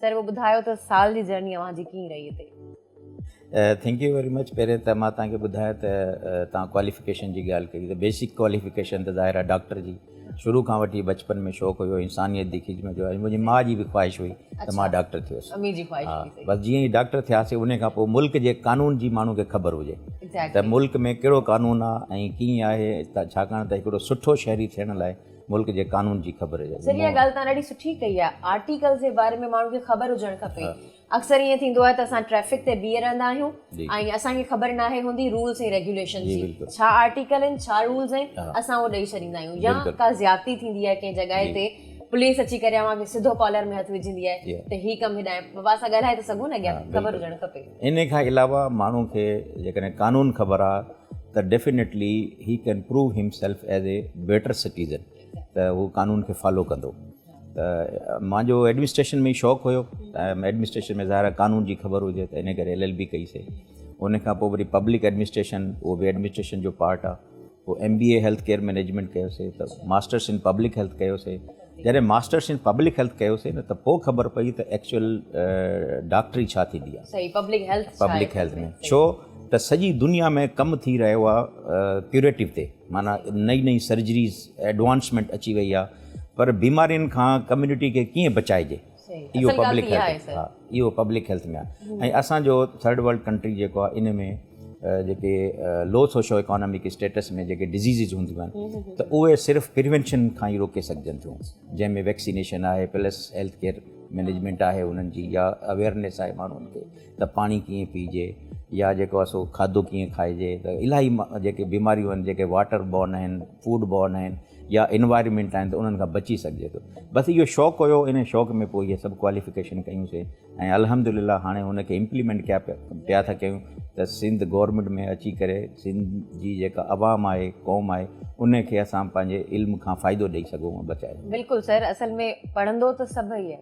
سر پوء ٻڌايو ته سال جي جرني اوهان جي ڪيئن رهي هتي؟ ٿينڪ يو ويري مچ پهرين ته مان توهان کي ٻڌايان ته توهان ڪواليفڪيشن جي ڳالهه ڪئي ته بيسڪ ڪواليفڪيشن ته ظاهر آهي ڊاڪٽر جي شروع کان وٺي بچپن ۾ شوق هيو انسانيت جي خدمت جو منهنجي ماء جي به خواهش هئي ته مان ڊاڪٽر ٿي هيس بس جيئن ئي ڊاڪٽر ٿياسي ان کان پوء ملڪ جي قانون جي ماڻهو کي خبر هجي ته ملڪ ۾ ڪهڙو قانون آهي ۽ ڪيئن آهي ڇاڪاڻ ته هڪڙو سٺو شهري ٿيڻ لاء ملڪ جي قانون جي خبر هجڻ سر اها ڳالهه توهان ڏاڍي سٺي ڪئي آهي آرٽيڪلز جي باري ۾ ماڻهن کي خبر هجڻ کپي اڪثر ائين ٿيندو آهي ته اسان ٽريفڪ تي بيهي رهندا آهيون ۽ اسان کي خبر ناهي هوندي رولز ۽ ريگيوليشن جي ڇا آرٽيڪل آهن ڇا رولز آهن اسان اهو ڏئي ڇڏيندا آهيون يا ڪا زيادتي ٿيندي آهي ڪنهن جڳهه تي پوليس اچي ڪري اوهان کي سڌو ڪالر ۾ هٿ وجهندي آهي ته هي ڪم هيڏانهن بابا اسان ڳالهائي ته سگهون نه اڳيان خبر هجڻ کپي انهي کان علاوه ماڻهو کي جيڪڏهن قانون خبر آ ته definitely he can prove himself as a better citizen ته هو قانون کي فالو ڪندو ته مانجو ايڊمنسٽريشن ۾ شوق هيو ۽ ايڊمنسٽريشن ۾ ظاهر قانون جي خبر هجي ته ان ڪري ايل ايل بي ڪئي سي ان کان پوء وري پبلڪ ايڊمنسٽريشن اهو به ايڊمنسٽريشن جو پارٽ آ پوء M B A health care management ڪيوسي ته ماسٽرس ان پبلڪ هيلٿ ڪيوسي جڏهن ماسٽرس ان پبلڪ هيلٿ ڪيوسي نه ته پوء خبر پئي ته ايڪچوئل ڊاڪٽري ڇا ٿيندي آهي صحيح پبلڪ هيلٿ ڇا پبلڪ هيلٿ ۾ ڇو ته سڄي دنيا ۾ ڪم ٿي رهيو آهي ڪيوريٽو تي معنيٰ نئي نئي سرجريز ايڊوانسمينٽ اچي وئي آهي پر بيمارين کان ڪميونٽي کي ڪيئن بچائجي اهو پبلڪ هيلٿ ها اهو پبلڪ هيلٿ ۾ آهي ۽ اسان جو ٿرڊ ورلڊ ڪنٽري جيڪو آهي ان ۾ جيڪي لو سوشو ايڪانامڪ اسٽيٽس ۾ جيڪي ڊزيزز هونديون آهن ته اهي صرف پروينشن کان ئي روڪي سگهجن ٿيون جنهن ۾ ويڪسينيشن آهي پلس هيلٿ ڪيئر مينيجمينٽ آهي انهن جي يا اويرنيس آهي ماڻهن کي ته پاڻي ڪيئن پيئجي يا جيڪو آهي سو کاڌو ڪيئن کائجي ته الاهي جيڪي بيماريون آهن جيڪي واٽر بورن آهن فوڊ بورن آهن يا انوائرمينٽ آهن ته انهن کان بچي سگهجي ٿو بس اهو شوق هيو ان شوق ۾ پوء اهي سڀ ڪواليفڪيشن ڪيون سي ۽ الحمد لله هاڻي ان کي امپليمينٽ ڪيا پيا ٿا ڪيون ته سنڌ گورنمينٽ ۾ اچي ڪري سنڌ جي جيڪا عوام آهي قوم آهي ان کي اسان پنهنجي علم کان فائدو ڏئي سگهون بچائي بلڪل سر اصل ۾ پڙهندو ته سڀئي آهي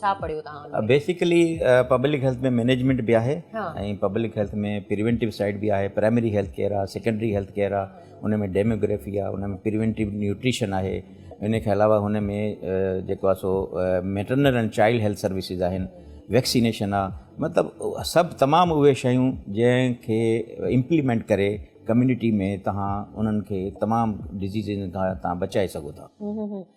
ڇا پڙهيو توهان ان ۾؟ بيسڪلي پبلڪ هيلٿ ۾ مينيجمينٽ به آهي ۽ پبلڪ هيلٿ ۾ پريونٽيو سائيڊ به آهي پرائمري هيلٿ ڪيئر آهي سيڪنڊري هيلٿ ڪيئر آهي ان ۾ ڊيموگريفي آهي ان ۾ پريونٽيو نيوٽريشن آهي ان کان علاوه هن ۾ جيڪو آهي سو maternal and child health services آهن ويڪسينيشن آهي مطلب سڀ تمام اهي شيون جنهن کي امپليمينٽ ڪري ڪميونٽي ۾ توهان انهن کي تمام ڊزيزن کان توهان بچائي سگهو ٿا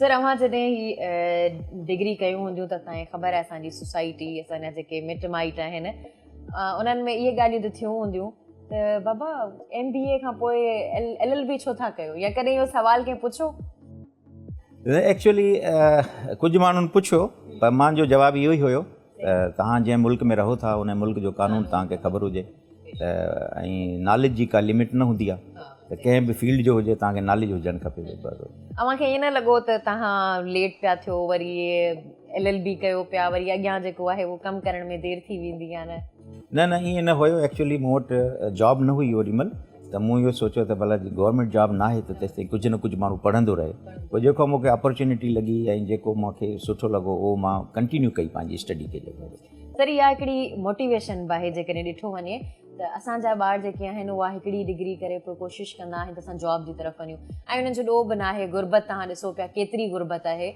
سر اوهان جڏهن هي ڊگري ڪيون هونديون ته اسان کي خبر آهي اسان جي سوسائٽي اسان جا جيڪي مٽ مائٽ آهن انهن ۾ اهي ڳالهيون ته ٿيون هونديون ته بابا ايم بي اي کان پوء ايل ايل بي ڇو ٿا ڪيو يا ڪڏهن اهو سوال ڪنهن پڇيو ايڪچولي ڪجهه ماڻهن پڇيو پر مانجو جواب اهو ئي هيو ته توهان جنهن ملڪ ۾ رهو ٿا ان ملڪ جو قانون توهان کي خبر هجي ته ۽ ناليج جي ڪا لمٽ نه هوندي آهي ته ڪنهن به فيلڊ جو هجي توهان کي ناليج هجڻ کپي. اوهان کي ائين نه لڳو ته توهان ليٽ پيا ٿيو وري ايل ايل بي ڪيو پيا وري اڳيان جيڪو آهي اهو ڪم ڪرڻ ۾ دير ٿي ويندي يا نه. نه نه ائين نه هيو ايڪچوئلي مون وٽ جاب نه هئي اوڏي مهل ته مون اهو سوچيو ته ڀلا جي گورنمينٽ جاب ناهي ته تيستائين ڪجهه نه ڪجهه ماڻهو پڙهندو رهي پوء جيڪو مون کي اپرچونيٽي لڳي ۽ جيڪو مون کي سٺو لڳو اهو مان ڪنٽينيو ڪئي پنهنجي اسٽڊي کي جيڪو هو. سر اها هڪڙي موٽيويشن به آهي جيڪڏهن ڏٺو وڃي ته اسان جا ٻار جيڪي آهن اها هڪڙي ڊگري ڪري پوء ڪوشش ڪندا آهن ته اسان جاب جي طرف وڃون ۽ انهن جو ڏوهه به ناهي غربت توهان ڏسو پيا ڪيتري غربت آهي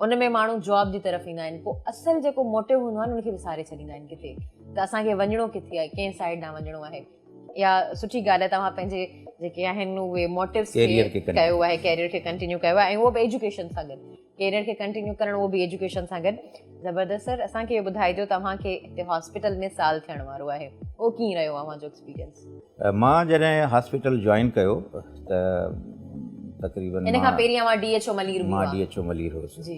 ان ۾ ماڻهو جاب جي طرف ايندا آهن پوء اصل جيڪو موٽو هوندو آهي نه ان کي وساري ڇڏيندا آهن ڪٿي ته اسان کي وڃڻو ڪٿي آهي ڪنهن سائيڊ ڏانهن وڃڻو آهي. يا سٺي ڳالهه آهي توهان پنهنجي جيڪي آهن اهي موٽيوز کي ڪيو آهي ڪيريئر کي ڪنٽينيو ڪيو آهي ۽ اهو به ايجوڪيشن سان گڏ ڪيريئر کي ڪنٽينيو ڪرڻ اهو به ايجوڪيشن سان گڏ زبردست سر اسانکي اهو ٻڌائجو توهانکي هتي هاسپيٽل ۾ سال ٿيڻ وارو آهي اهو ڪيئن رهيو اوهان جو ايڪسپيريئنس مان جڏهن هاسپيٽل جوائن ڪيو ته تقريبن ان کان پهرين اوهان ڊي ايڇ او ملير هئا مان ڊي ايڇ او ملير هوس جي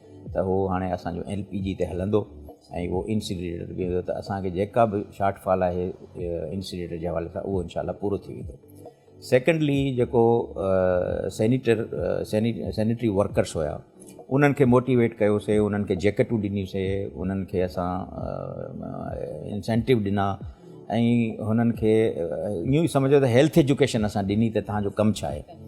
ته اهو هاڻي اسان جو ايل پي جي تي هلندو ۽ اهو انسينريٽر به هوندو ته اسان کي جيڪا به شارٽ فال آهي انسينريٽر جي حوالي سان اهو انشاء الله پورو ٿي ويندو سيڪنڊلي جيڪو سينيٽر سينيٽري ورڪرس هيا انهن کي موٽيويٽ ڪيوسي انهن کي جيڪيٽون ڏنيسي انهن کي اسان انسينٽو ڏنا ۽ هنن کي ايون ئي سمجهو ته هيلٿ ايجوڪيشن اسان ڏني ته تهان جو ڪم ڇا آهي